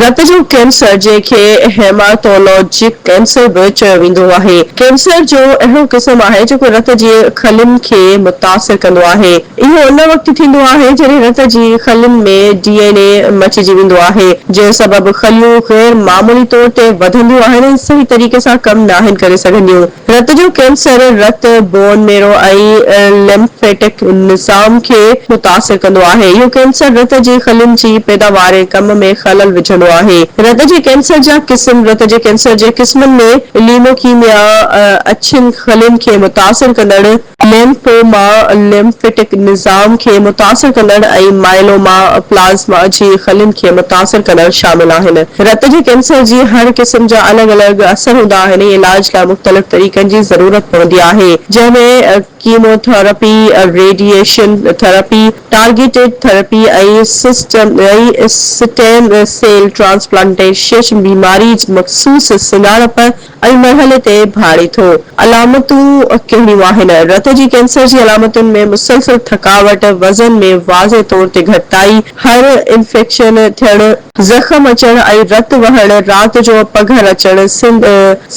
رت جو ڪينسر، جنهن کي هيماٽولاجڪ ڪينسر به چيو ويندو آهي، ڪينسر جو اهڙو قسم آهي جيڪو رت جي خلين کي متاثر ڪندو آهي. اهو ان وقت ٿيندو آهي جڏهن رت جي خلين ۾ ڊي اين اي مچجي ويندو آهي، جنهن سبب خليون غير معمولي طور تي وڌنديون آهن ۽ صحيح طريقي سان ڪم ناهن ڪري سگهنديون. رت جو ڪينسر رت، بون ميرو ۽ ليمفيٽڪ نظام کي متاثر ڪندو آهي. اهو ڪينسر رت جي خلين جي پيداوار ۽ ڪم ۾ خلل وجهندو آهي. رت جي ڪينسر جا قسم رت جي ڪينسر جي قسمن ۾ ليموڪيميا، اڇين خلين کي متاثر ڪندڙ، ليمفوما، Lymphatic، نظام کي متاثر ڪندڙ ۽ مائيلوما، Plasma، جي خلين کي متاثر ڪندڙ شامل آهن. رت جي ڪينسر جي هر قسم جا الڳ الڳ اثر هوندا آهن ۽ علاج لاء مختلف طريقن جي ضرورت پوندي آهي، جنهن ۾ chemo therapy, radiation therapy, targeted therapy ۽ stem cell transplantation بيماري جي مخصوص سڃاڻپ، ائين مرحلي تي ڀاڙي ٿو. علامتون ڪهڙيون آهن؟ رت جي ڪينسر جي علامتن ۾ مسلسل ٿڪاوٽ، وزن ۾ واضح طور تي گهٽتائي، هر انفيڪشن ٿيڻ، زخم اچڻ ۽ رت وهڻ، رات جو پگهر اچڻ،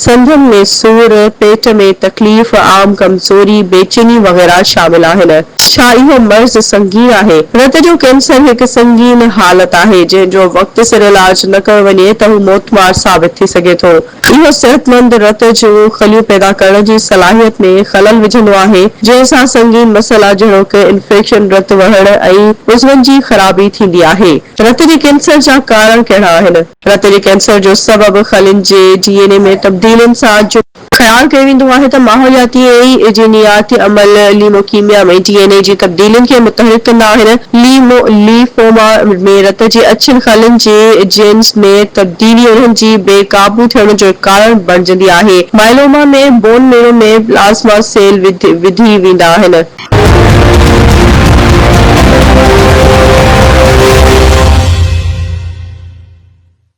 سنڌن ۾ سور، پيٽ ۾ تڪليف، عام ڪمزوري، بيچيني وغيره شامل آهن. ڇا اهو مرض سنگين آهي؟ رت جو ڪينسر هڪ سنگين حالت آهي، جنهن جو وقت سر علاج نه ڪيو وڃي ته هو موتمار ثابت ٿي سگهي ٿو. اهو صحتمند رت جون خليون پيدا ڪرڻ جي صلاحيت ۾ خلل وجهندو آهي، جنهن سان سنگين مسئلا جهڙوڪ انفيڪشن، رت وهڻ ۽ عضون جي خرابي ٿيندي آهي. رت جي ڪينسر جا ڪارڻ ڪهڙا آهن؟ رت جي ڪينسر جو سبب خلين جي ڊي اين اي ۾ تبديلين سان جڙيل. خيال ڪيو ويندو آهي ته ماحولياتي ۽ جينياتي عمل ليموڪيميا ۾ ڊي اين اي جي تبديلين کي متحرڪ ڪندا آهن. ليمو، Lymphoma، ۾ رت جي اڇين خلن جي جينز ۾ تبديلي انهن جي بي قابو ٿيڻ جو ڪارڻ بڻجندي آهي. Myeloma ۾ bone marrow ۾ plasma cell وڌي ويندا آهن.